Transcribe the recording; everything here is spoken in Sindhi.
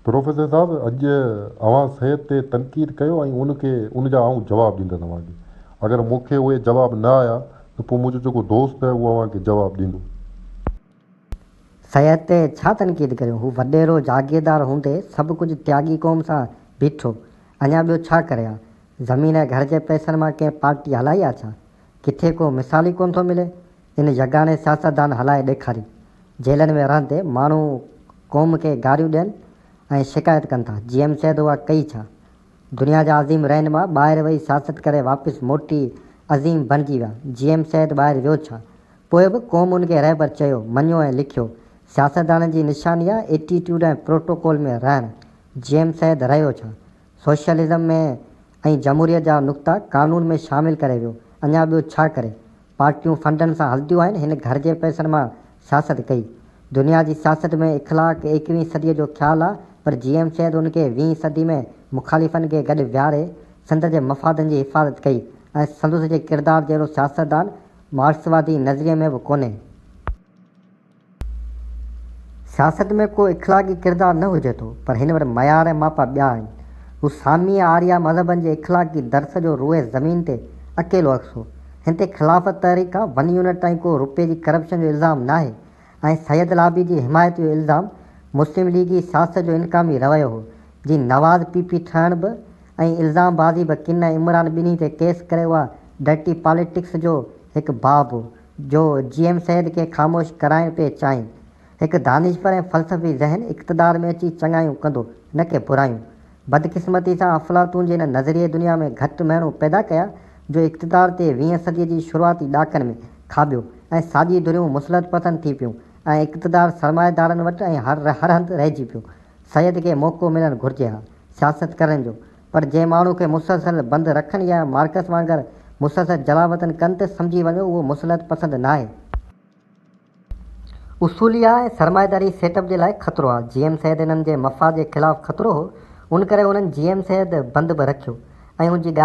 پروفيسر صاحب اڄ اوهان صحت تي تنقيد ڪيو ۽ ان کي ان جا آئون جواب ڏيندس اوهان کي اگر مون کي اهي جواب نه آيا ته پوء منهنجو جيڪو دوست اهي اهو اوهان کي جواب ڏيندو. صحت تي ڇا تنقيد ڪريون هو وڏيرو جاگيردار هوندي سڀ ڪجهه تياڳي قوم سان بيٺو اڃا ٻيو ڇا ڪري ها زمين ۽ گهر جي پئسن مان ڪنهن پارٽي هلائي ها ڇا ڪٿي ڪو مثال ئي ڪونه ٿو ملي ان يگاني سياستدان هلائي ڏيکاري. جيلن ۾ رهندي ماڻهو قوم کي گاريون ڏين ۽ شڪايت ڪن ٿا. جي ايم سيد اها ڪئي ڇا؟ دنيا جا عظيم رهنما ٻاهر وئي سياست ڪري واپس موٽي عظيم بڻجي ويا. جي ايم سيد ٻاهر ويو ڇا؟ پوء به قوم ان کي رهبر چيو، مڃيو ۽ ليکيو. سياستدانن جي نشاني آهي ايٽيٽيوڊ ۽ پروٽوڪول ۾ رهڻ. جي ايم سيد رهيو ڇا؟ سوشلزم ۾ ۽ جمهوريت جا نقطا قانون ۾ شامل ڪري ويو، اڃا ٻيو ڇا ڪري؟ پارٽيون فنڊن سان هلنديون آهن، هن گهر جي پئسن مان سياست ڪئي. دنيا جي سياست ۾ اخلاق ايڪويهين صديء جو خيال آ، پر جي ايم سيد ان کي ويهين صدي ۾ مخالفن کي گڏ ويهاري سنڌ جي مفادن جي حفاظت ڪئي ۽ سندس جي ڪردار جهڙو سياستدان مارڪسوادي نظريي ۾ به ڪونهي. سياست ۾ ڪو اخلاقي ڪردار نه هجي ٿو، پر هن وٽ معيار ۽ ماپا ٻيا آهن. هو سامي ۽ آريا مذهبن جي اخلاقي درس جو روئي زمين تي اڪيلو عڪس هو. هن تي خلافت تحريڪ کان ون يونٽ تائين ڪو روپيي جي ڪرپشن جو الزام ناهي ۽ سيد لابي جي حمايت جو الزام مسلم ليگي سياست جو انقامي رويو هو، جي نواز پي پي ٺهڻ به ۽ الزام بازي به ڪن ۽ عمران ٻنهي تي ڪيس ڪري اها ڊرٽي پاليٽڪس جو هڪ باب هو. جو جي ايم سيد کي خاموش ڪرائڻ پئي چاهين. هڪ دانشور ۽ فلسفي ذهن اقتدار ۾ اچي چڱايون ڪندو نه ڪي برايون. بدقسمتي سان افلاطون جي هن نظريي دنيا ۾ گهٽ مهڻو پيدا ڪيا جو اقتدار تي ويهين صديء جي شروعاتي ڏهاڪن ۾ کاٻيو ۽ ساڄي ڌريون مصلحت پسند ٿي پيون ۽ اقتدار سرمائيدارن وٽ ۽ هر هر هنڌ رهجي پيو. سيد کي موقعو ملڻ گهرجي ها سياست ڪرڻ جو پر جنهن ماڻهو کي مسلسل بند رکن يا مارڪس وانگر مسلسل جلاوطن ڪن ته سمجهي وڃو اهو مصلحت پسند ناهي. اصولي آ ۽ سرمائيداري سيٽ اپ جي لاء خطرو آ. جي ايم سيد انهن جي مفاد جي خلاف خطرو هو ان ڪري انهن جي ايم سيد بند به رکيو ۽ ان جي ڳالهه